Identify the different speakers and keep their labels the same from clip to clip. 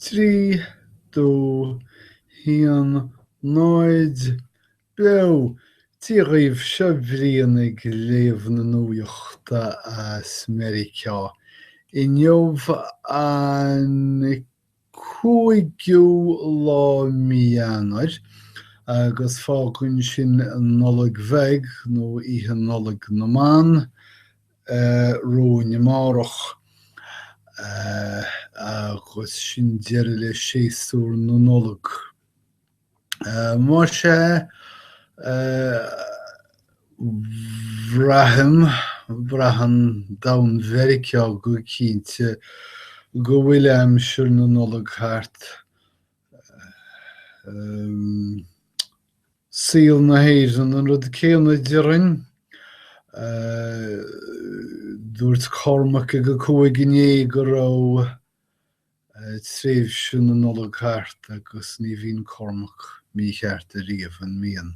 Speaker 1: trí dó a haon náid beo Dia dhaoibh seo Brian ag léamh na nuachta as Meiriceá inniu an 5ú lá mí Eanáir agus fágann sin Nollaig Bheag nó Oíche Nollaig na mBan romhainn amárach agus sin deireadh le séasúr na Nollag. Mar sin, braithim, braitheann domhan Mheiriceá go cinnte, go bhfuil aimsir na Nollag thart saol na hÉireann an rud céanna déarfainn. Dúirt Cormac ag a cúig inné go raibh tréimhse na Nollag thart agus ní bhíonn Cormac mícheart ariamh, an mbíonn?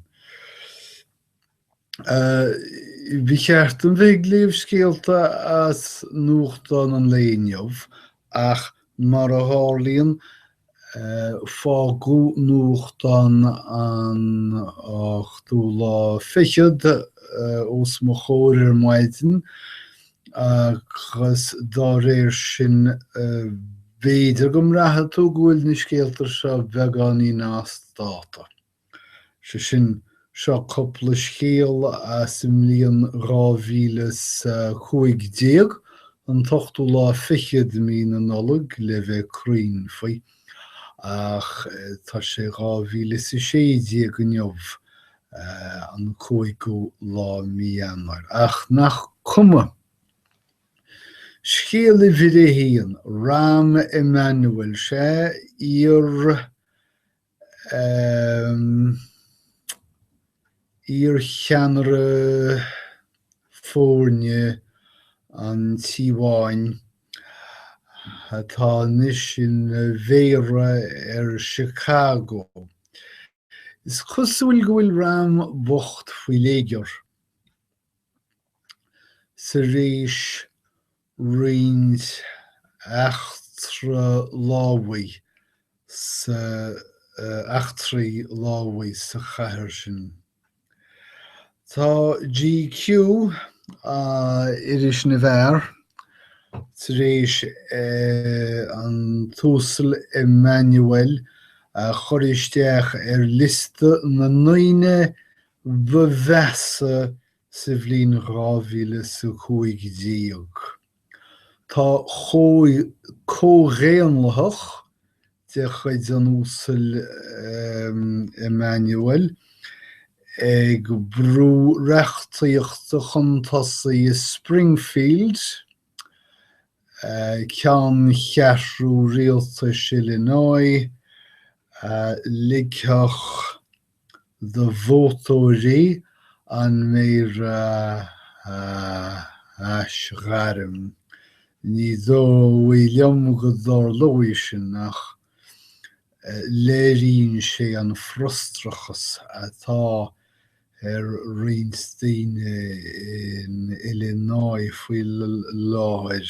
Speaker 1: Ba cheart dom bheith ag léamh scéalta as nuachtáin an lae inniu, ach mar a tharlaíonn, fágadh nuachtán an ochtú lá fichead os mo chomhair ar maidin, agus dá réir sin, b'fhéidir go mbraithfidh tú go bhfuil na scéalta seo beagáinín as dáta. sé sin, seo cúpla scéal as an mbliain 2015, an t-ochtú lá fichead de mhí na Nollag, le bheith cruinn faoi, ach tá sé dhá mhíle is a sé déag inniu, an cúigiú lá mí Eanáir. Ach nach cuma. Scéal uimhir a haon, Rahm Emanuel, sé, iar, iarcheannaire foirne an Tí Bháin, atá anois ina mhéara ar Chicago. Is cosúil go bhfuil Rahm bocht faoi léigear. Tar éis, roinnt eachtra lámhaigh sa eachtraí lámhaigh sa chathair sin. Tá GQ, iris na bhfear, tar éis an tUasal Emanuel a chur isteach ar liosta na ndaoine ba mheasa sa bhliain 2015. Tá comhdhaonlathach de chuid an Uasail Emanuel ag brú reachtaíochta chun tosaigh i Springfield, ceanncheathrú rialtais Illinois, a ligfeadh. do vótóirí an méara a aisghairm. Ní dóigh liom go dtarlóidh sin ach léiríonn sé an frustrachas atá ar roinnt daoine in Illinois faoi láthair.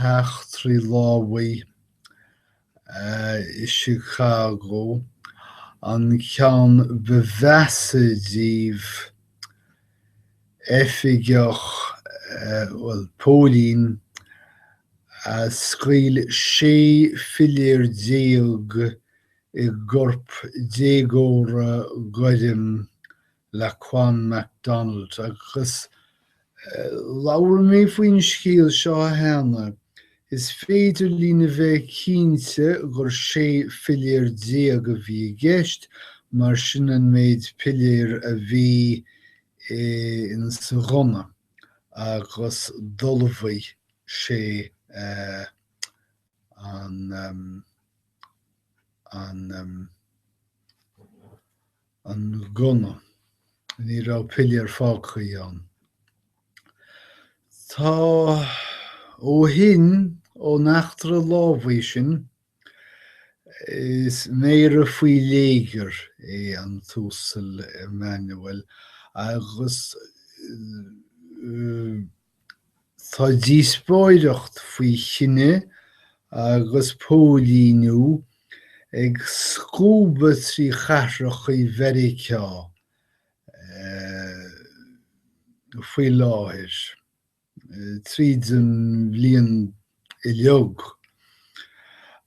Speaker 1: heachtraí lámhaigh i Chicago, an ceann ba mheasa díobh, oifigeach, bhuel, póilín, a scaoil 16 philéar i gcorp déagóra ghoirm Laquan McDonald, agus labhair mé faoin scéal seo cheana, is féidir linn a bheith cinnte gur 16 philéar a bhí i gceist, mar sin an méid piléar a bhí insa ghunna, agus d'fholmhaigh sé an. an gunna. Ní raibh piléar fágtha ann. Tá ó shin, ón eachtra lámhaigh sin, is méara faoi léigear é an tUasal Emanuel agus. Tá díospóireacht faoi chine agus póilíniú ag scuabadh trí chathracha i Meiriceá faoi láthair. Tríd an bhliain. uilig.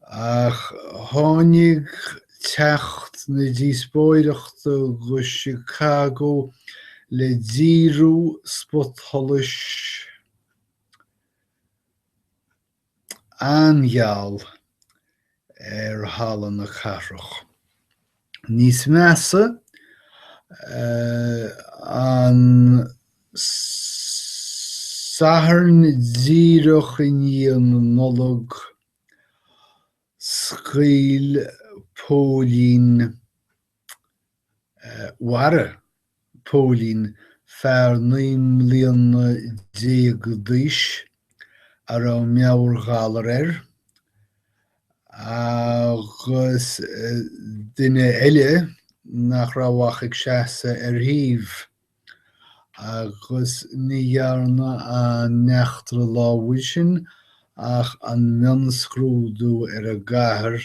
Speaker 1: Ach tháinig teacht na díospóireachta go Chicago le díriú spotsolais an-gheal ar Halla na Cathrach. níos measa, an Satharn díreach i ndiaidh na Nollag, scaoil póilín marbh póilín, fear naoi mbliana déag d'aois a raibh meabhairghalar air, agus duine eile nach raibh ach ag seasamh ar thaobh, agus ní dhearna an eachtra lámhaigh sin ach an mionscrúdú ar an gcathair,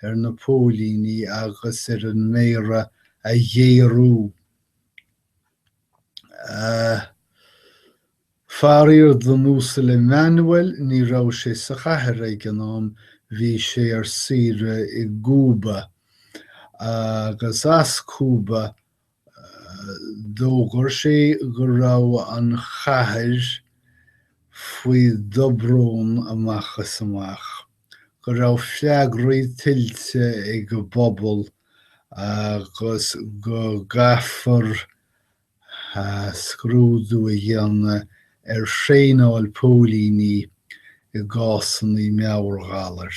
Speaker 1: ar na póilíní agus ar an Méara a ghéarú. Faraor don Uasal Emanuel, ní raibh sé sa chathair ag an am, bhí sé ar saoire i gCúba, agus as Cúba D'fhógair sé go raibh an chathair faoi dhobrón amach is amach, go raibh freagraí tuillte ag an bpobal agus go gcaithfear scrúdú a dhéanamh ar thraenáil póilíní i gcásanna meabhairghalair.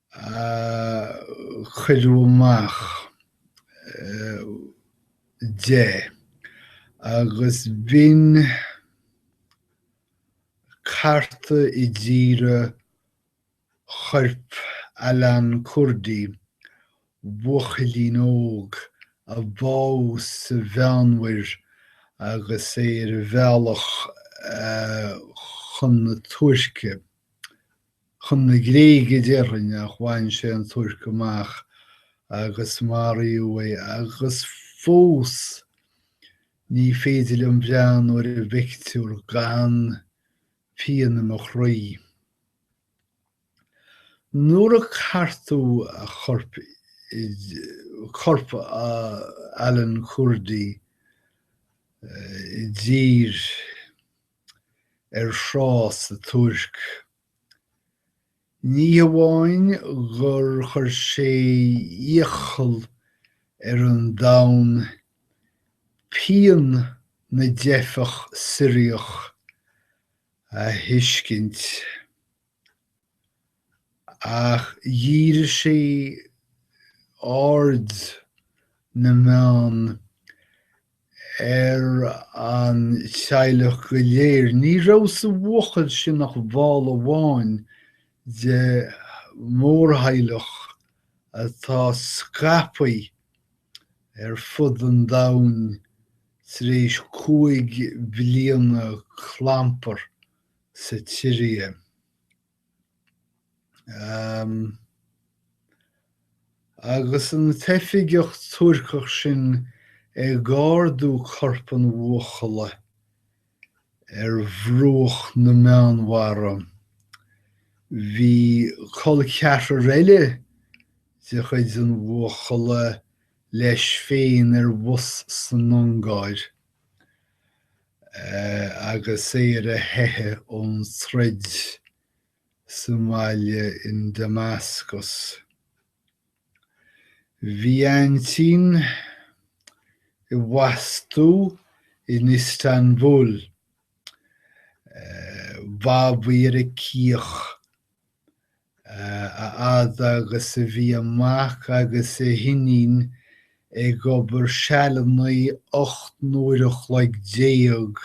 Speaker 1: cuireadh amach de agus b'in cartadh i dtír chorp Alan Kurdi, buachaillín óg a bádh sa Mheánmhuir agus é ar bhealach chun na Tuirce. chun na Gréige déarfainn, ach bhain sé an Tuirc amach agus maraíodh é, agus fós ní féidir liom breathnú ar an bpictiúr gan pian i mo chroí. Nuair a cartadh a chorp, corp Alan Kurdi, i dtír. ar thrá sa Tuirc. Ní hamháin gur chuir sé iachall ar an domhan pian na dteifeach Siriach a thuiscint, Ach dhírigh sé aird na meán ar an teaghlach go léir. Ní raibh sa bhuachaill sin ach ball amháin de mhórtheaghlach atá scaipthe ar fud an domhain tar éis cúig bliana clampair sa tSiria. Agus an t-oifigeach Tuirceach sin ag ardú corp an bhuachalla ar bhruach na Meánmhara, bhí col ceathrar eile de chuid an bhuachalla leis féin ar bhus san Ungáir. Agus é ar a theitheadh ón troid sa mbaile in Damascus, bhí a aintín i bhfastú in Istanbul, babaí ar a cíoch. A fhad agus a bhí a mac agus a hiníon ag obair sealannaí ocht n-uaire a chloig déag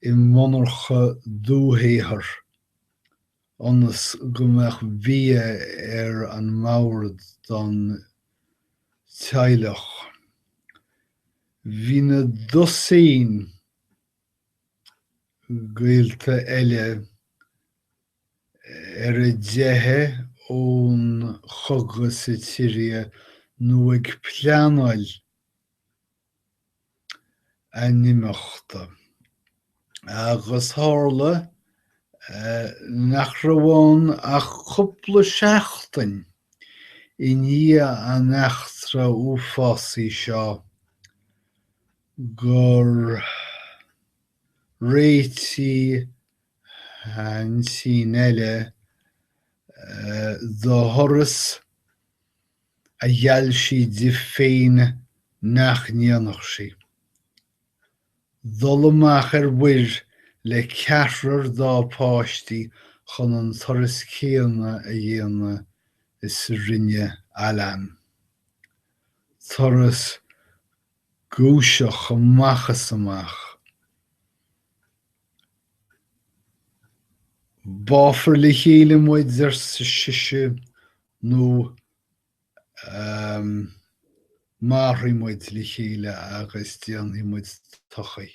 Speaker 1: i monarcha dúshaothair ionas go mbeadh bia ar an mbord don teaghlach, bhí na dosaein gaolta eile, ar a dteitheadh ón chogadh sa tSiria nó ag pleanáil a n-imeachta. Agus tharla nach raibh ach cúpla seachtain i ndiaidh an eachtra uafásaí seo gur réitigh aintín eile do thuras a gheall sí di féin nach ndéanfadh sí, dul amach ar mhuir le ceathrar dá páistí chun an turas céanna a dhéanamh is a rinne Alan. Turas guaiseach amach is amach. Báfar le chéile muid, arsa sise, nó mairfidh muid le chéile agus déanfaidh muid todhchaí.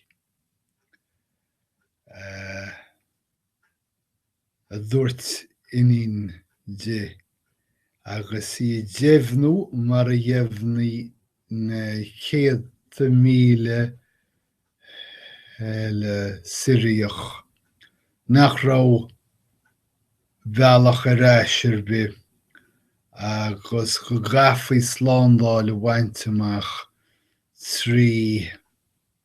Speaker 1: a dúirt iníon di, agus í ag deimhniú, mar a dheimhnigh na céadta míle eile Siriach, nach raibh bealach ar ais ar bith agus go gcaithfí slándáil a bhaint amach trí.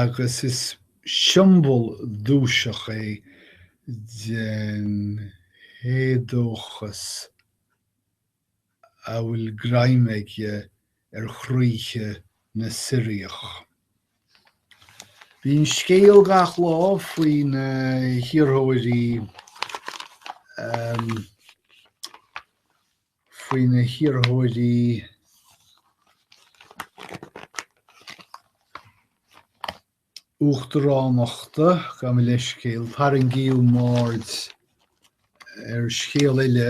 Speaker 1: Agus is siombail duaiseach é den héadóchas a bhfuil greim aige ar chroíthe na Siriach. Bíonn scéal gach lá faoi na hiarrthóirí a. faoi na hiarrthóirí uachtaránachta, gabh mo leithscéal, tarraingíodh m'aird ar scéal eile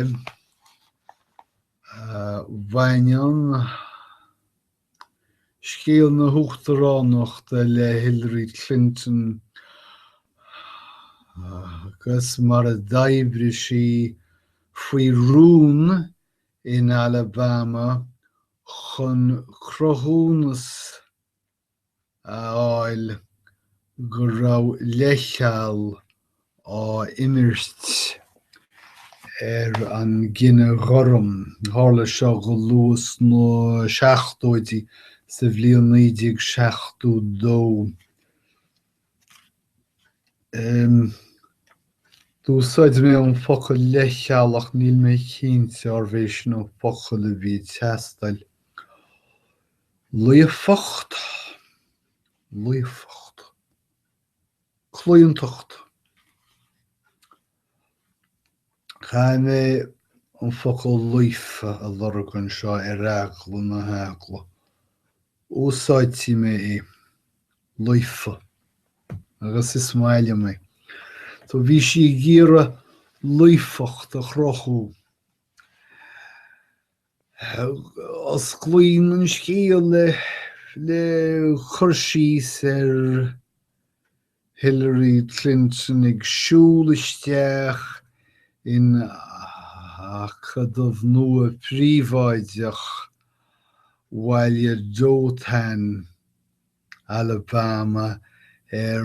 Speaker 1: a bhaineann, Scéal na huachtaránachta le Hillary Clinton agus mar a d'oibrigh sí faoi rún in Alabama chun cruthúnas fháil go raibh leithcheal á imirt ar an gcine gorm. Tharla seo go luath sna seachtóidí, sa bhliain 1972. D'úsáid mé an focal leithcheal ach níl mé cinnte arbh é sin an focal a bhí ag teastáil. Laofacht, laofacht. Claontacht. Caithfidh mé an focal 'laofa' a lorg anseo ar eagla na heagla. Úsáidfidh mé é. Laofa. Agus is maith liom é. So bhí sí ag iarraidh laofacht a chruthú. Osclaíonn an scéal le cur síos ar Hillary Clinton ag siúl isteach in acadamh nua príobháideach Bhaile Dothan. Alabama ar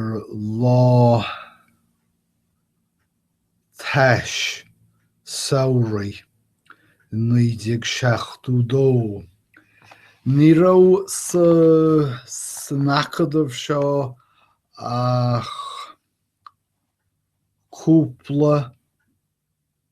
Speaker 1: lá tais samhraidh i 1972. Ní raibh san acadamh seo ach cúpla.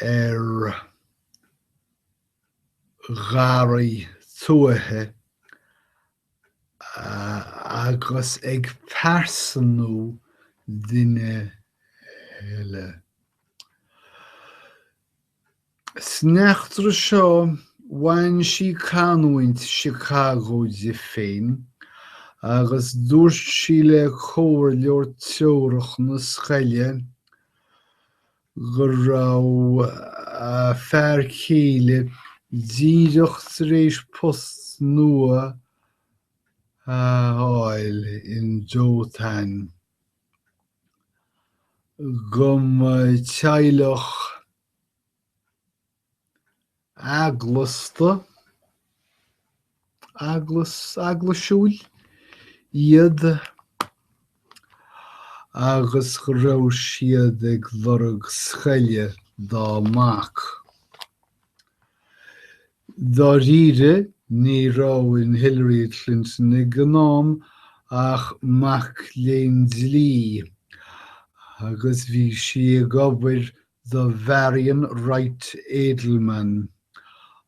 Speaker 1: ar gharraí tuaithe agus ag pearsanú duine eile. San eachtra seo, bhain sí canúint Chicago di féin agus dúirt sí le comhairleoir treorach na scoile, go raibh a fear céile díreach tar éis post nua a fháil in Dothan, go mba theaghlach eaglasta, eaglais, eaglaisiúil iad agus go raibh siad ag lorg scoile dá mac. Dáiríre, ní raibh in Hillary Clinton ag an am ach mac léinn dlí agus bhí sí ag obair do Mharian Wright Edelman,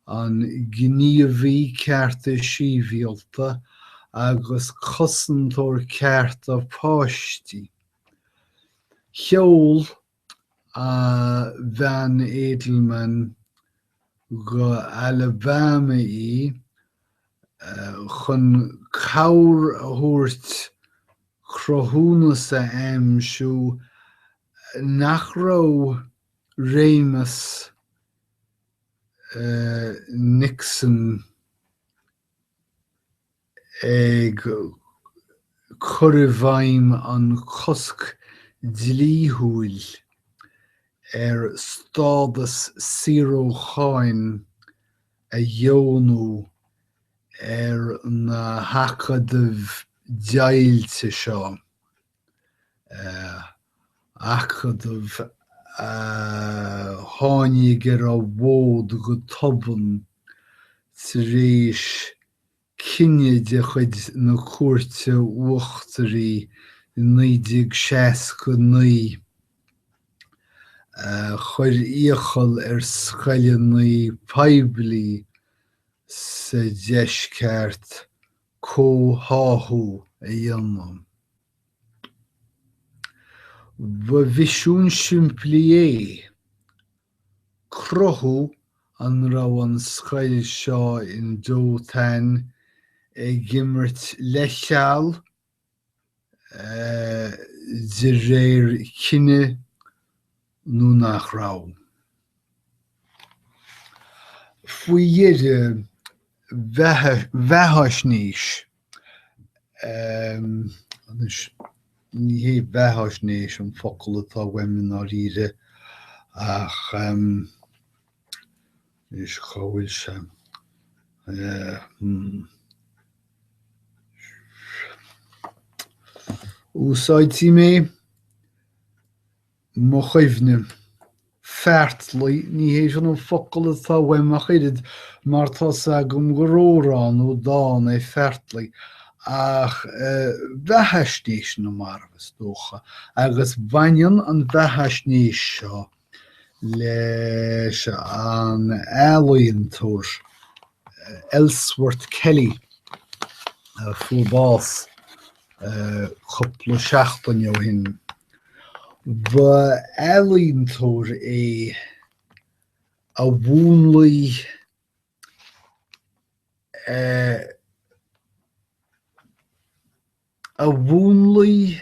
Speaker 1: an gníomhaí cearta síbhialta agus cosantóir cearta páistí. Sheol Bean Edelman go Alabama í chun cabhair a thabhairt cruthúnas a aimsiú nach raibh réimeas Nixon ag cur i bhfeidhm an cosc dlíthiúil ar stádas saor ó cháin a dheonú ar na hacadaimh deighilte seo. acadaimh a tháinig ar an bhfód go tobann tar éis cinneadh de chuid na Cúirte Uachtaraí i 1969 a chuir iachall ar scoileannaí poiblí sa Deisceart comhtháthú a dhéanamh. Ba mhisiún simplí é cruthú an raibh an scoil seo in Dothan ag imirt leithcheal, de réir cine nó nach raibh. Faoi dheireadh, beathaisnéis, anois ní hé beathaisnéis an focal atá uaim i ndáiríre ach Anois, cá bhfuil sé? Úsáidfidh mé mo chuimhne. Feartlaoi, ní hé sin an focal atá uaim ach oiread, mar tá 's agam gur óráid nó dán é feartlaoi, ach beathaisnéis na marbh, is dócha, agus baineann an bheathaisnéis seo, leis an ealaíontóir Ellsworth Kelly a fuair bás cúpla seachtain ó shin. Ba ealaíontóir é a mhúnlaigh a mhúnlaigh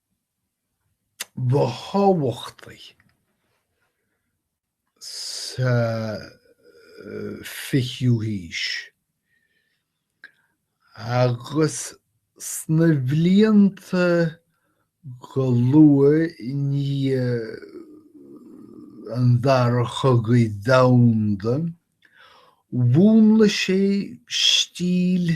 Speaker 1: ba thábhachtaí sa 20ú haois agus sna blianta go luath i ndiaidh an Dara Cogadh Domhanda, mhúnlaigh sé stíl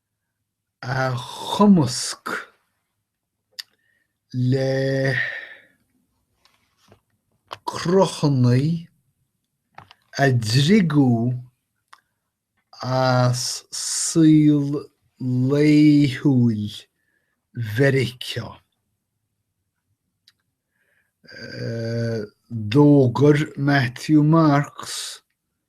Speaker 1: a chumasc le cruthannaí a driogadh as saol laethúil Mheiriceá. D'fhógair Matthew Marks,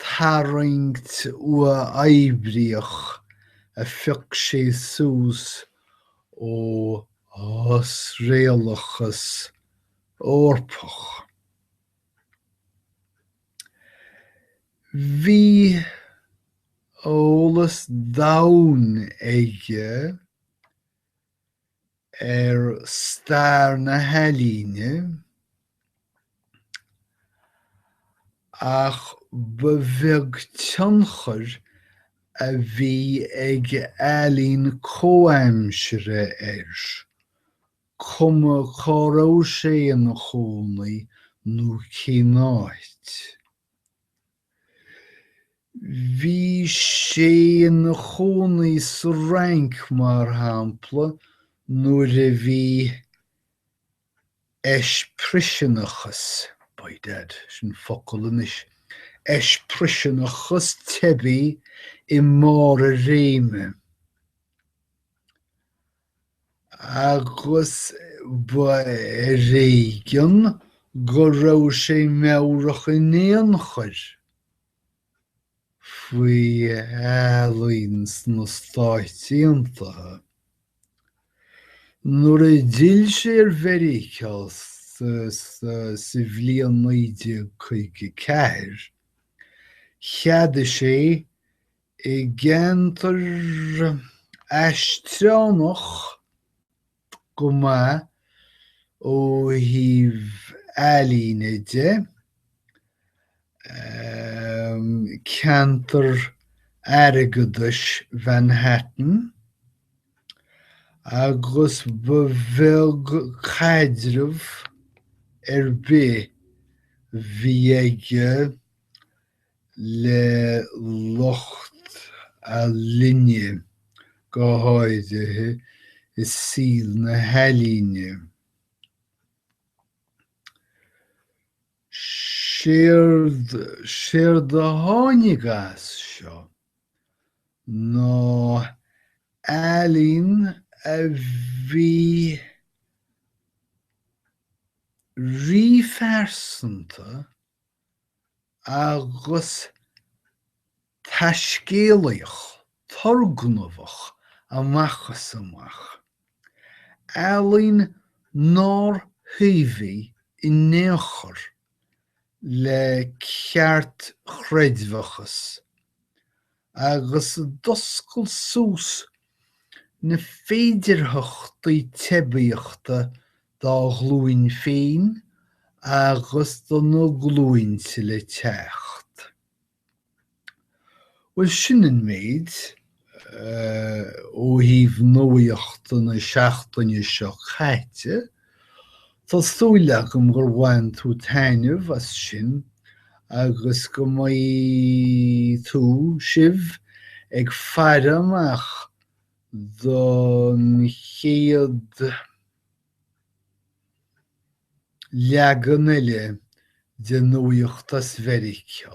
Speaker 1: tarraingt uathoibríoch a phioc sé suas ó osréalachas Eorpach. Bhí eolas domhain aige ar stair na healaíne, ach ba bheag tionchar a bhí ag ealaín chomhaimseartha air, cuma cá raibh sé ina chónaí nó cén áit. Bhí sé ina chónaí sa Fhrainc, mar shampla, nuair a bhí eispriseanachas, by dad, sin focal anois, eispriseanachas teibí i mbarr a réime. agus ba ar éigean go raibh sé meabhrach in aon chor faoi ealaín sna Stáit Aontaithe. Nuair a d'fhill sé ar Mheiriceá sa bhliain 1954, cheadaigh sé I gceantar aistreánach go maith ó thaobh ealaíne de, ceantar airgeadais Mhanhattan, agus ba bheag caidreamh ar bith a bhí aige le lucht a linne, go háirithe i saol na healaíne. Séard a tháinig as seo ná ealaín a bhí ríphearsanta, agus taiscéalaíoch turgnamhach amach is amach, ealaín nár thaobhaigh in aon chor le ceartchreidmheachas agus d'oscail suas na féidearthachtaí teibíochta dá ghlúin féin agus do na glúinte le teacht. Bhuel, sin an méid é ó thaobh nuaíochta na seachtaine seo caite. Tá súil agam gur bhain tú taitneamh as sin agus go mbeidh tú, sibh, ag faire amach don chéad leagan eile de Nuaíocht as Mheiriceá.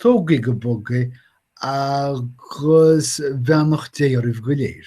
Speaker 1: Tógaigí go bog é agus beannacht Dé oraibh go léir.